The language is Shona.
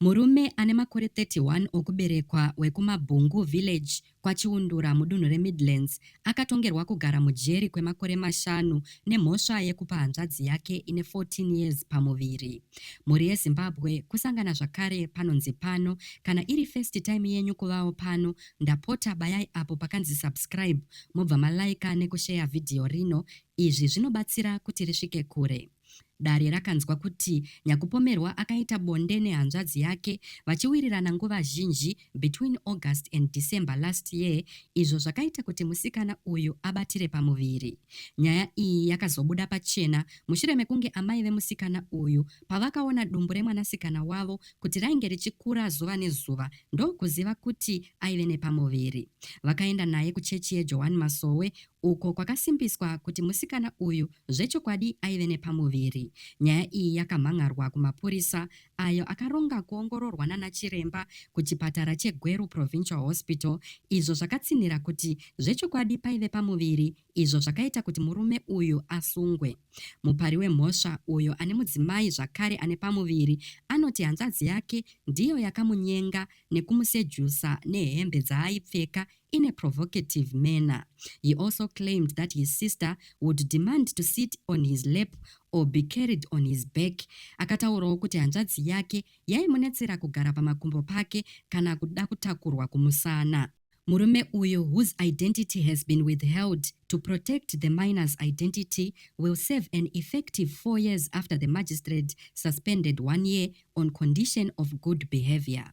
Murume ane makore 31 okuberekwa wekuMabhungu Village, kwaChiundura, mudunhu reMidlands, akatongerwa kugara mujeri kwemakore mashanu nemhosva yekupa hanzvadzi yake ine 14 years pamuviri. Mhuri yeZimbabwe kusangana zvakare panonzi pano. Kana iri first time yenyu kuvawo pano, ndapota bayai apo pakanzi subscribe mobva maliker nekusheya video rino. Izvi zvinobatsira kuti risvike kure. Dare rakanzwa kuti Nyakupomerwa akaita bonde nehanzvadzi yake vachiwirirana nguva zhinji between August and December last year izvo zvakaita kuti musikana uyu abatire pamuviri. Nyaya iyi yakazobuda pachena mushure mekunge amai vemusikana uyu pavakaona dumbu remwanasikana wavo kuti rainge richikura zuva nezuva ndokuziva kuti aive nepamuviri. Vakaenda naye kuchechi yeJohani Masowe uko kwakasimbiswa kuti musikana uyu zvechokwadi aive nepamuviri. Nyaya iyi yakamhan'arwa kumapurisa ayo akaronga kuongororwa nanachiremba kuchipatara cheGweru Provincial Hospital izvo zvakatsinhira kuti zvechokwadi paive pamuviri izvo zvakaita kuti murume uyu asungwe. Mupari wemhosva uyo ane mudzimai zvakare ane pamuviri anoti hanzvadzi yake ndiyo yakamunyenga nekumusejusa nehembe dzaaipfeka in a provocative manner. He also claimed that his sister would demand to sit on his lap or be carried on his back. Akataurawo kuti hanzvadzi yake yaimunetsera kugara pamakumbo pake kana kuda kutakurwa kumusana. Murume uyu, whose identity has been withheld to protect the minor's identity, will serve an effective four years after the magistrate suspended one year on condition of good behavior.